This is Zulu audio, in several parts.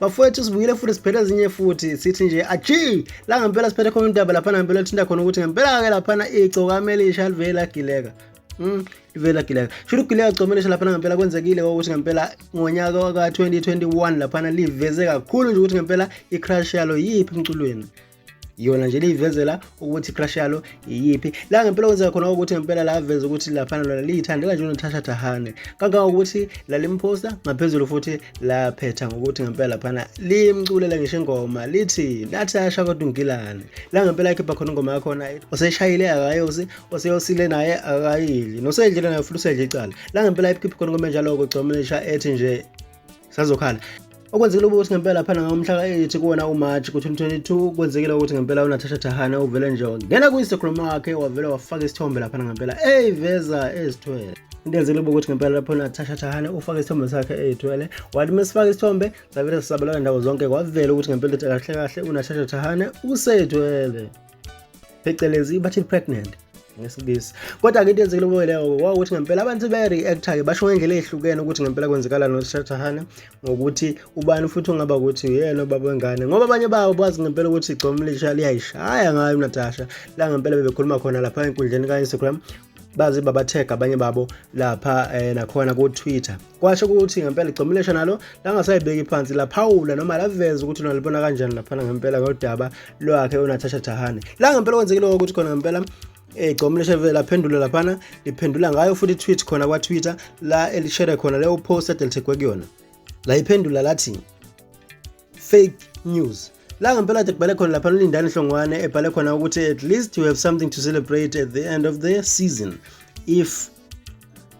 bafowethu sibuyile futhi siphethe ezinye futhi sithi nje aji la ngempela siphethe khona indaba laphana ngempela lithinta khona ukuthi ngempela-ke laphana igcokame elisha livele lagileka Mm, ivela gileka shuthi ugileka comelesha laphana ngempela kwenzekile ukuthi ngempela ngonyaka waka-2021 laphana liveze kakhulu nje ukuthi ngempela i-crush yalo yiphi emculweni iyona nje liyivezela ukuthi crush yalo iyiphi la ngempela kwenzeka khona ukuthi ngempela la aveze ukuthi laphana lona liyithandela nje uNatasha Thahane kangangokuthi lalimposta ngaphezulu futhi laphetha ngokuthi ngempela laphana limculela ngisho ingoma lithi Natasha kodwa ungilane la ngempela ikhipha khona ingoma yakhona oseshayile akayosi oseyosile naye akayili nosedlile naye futhi usedle icala la ngempela ikhipha khona ingoma enjalo kugcomelisha ethi nje sazokhala okwenzekile ukuthi ngempela phela ngomhla ka-8 kuwona umarch ku-2022 kwenzekile ukuthi ngempela unatasha thahane uvele nje ngena ku-instagram wakhe wavele wafaka isithombe laphana ngempela eyiveza ezithwele into enzekile ukuthi ngempela lapho natasha thahane ufake isithombe sakhe eyithwele wathi uma sifake isithombe savele sisabalala ndawo zonke kwavela ukuthi ngempela ukuthi kahle kahle unatasha thahane useyithwele phecelezi bathi pregnant ngesingisi kodwa ke into yenzekile kuyo leyo wawukuthi ngempela abantu be-react-ke basho ngendlela ehlukene ukuthi ngempela kwenzekalani noshathahane ngokuthi ubani futhi ungaba ukuthi uyena ubaba wengane ngoba abanye babo bazi ngempela ukuthi igcomo lisha liyayishaya ngayo unatasha la ngempela bebekhuluma khona lapha enkundleni ka-instagram baze babathega abanye babo lapha eh, nakhona ku-twitter kwasho ukuthi ngempela igcomulesha nalo langasayibeki phansi laphawula noma laveza ukuthi nalibona kanjani laphana ngempela ngodaba lwakhe unatasha dahane la ngempela kwenzekile ukuthi khona ngempela egcoma leshevele laphendula laphana liphendula ngayo futhi tweet khona kwa-twitter la elishere khona leyo post adelithegwe kuyona layiphendula lathi fake news la ngempela kade kubhale khona lapha lindani hlongwane ebhale khona ukuthi at least you have something to celebrate at the end of the season if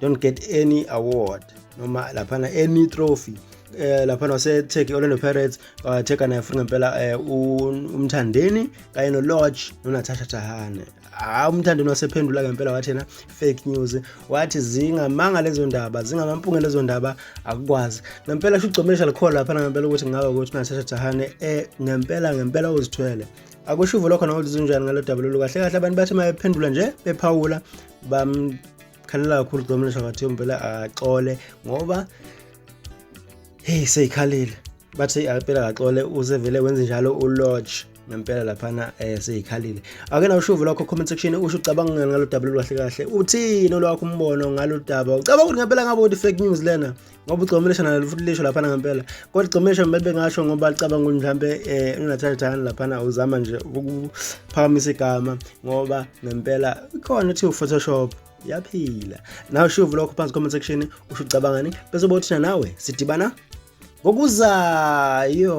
don't get any award noma laphana any trophy eh lapha waseTurkey Orlando Pirates watheka naye futhi ngempela eh, umthandeni kanye no Lodge noNatasha Tahane hayi umthandeni wasephendula ngempela wathi yena fake news wathi zingamanga lezo ndaba zingamampunge lezo ndaba akukwazi ngempela sho ugcomesha likhona lapha ngempela ukuthi ngabe ukuthi unatasha jahane eh ngempela ngempela uzithwele akusho uvo lokho nokuthi zinjani ngalo daba lolu kahle kahle abantu bathi mayephendula nje bephawula bamkhalela kakhulu ugcomesha wathi ngempela axole ngoba hey seyikhalile bathi impela kaxole usevele wenze njalo ulodge ngempela laphana eh seyikhalile ake nawushuvu lokho comment section usho ucabanga ngani ngalo daba lolwahle kahle uthini olwakho umbono ngalo daba ucabanga ukuthi ngempela ngabe ukuthi fake news lena ngoba ugcomelesha nalo futhi lisho laphana ngempela kodwa ugcomelesha kumele bengasho ngoba licabanga ukuthi mhlambe eh unathayithana laphana uzama nje ukuphakamisa igama ngoba ngempela khona uthi uphotoshop yaphila nawe shuvu lokho phansi comment section usho ucabangani bese bothina nawe sidibana ngokuzayo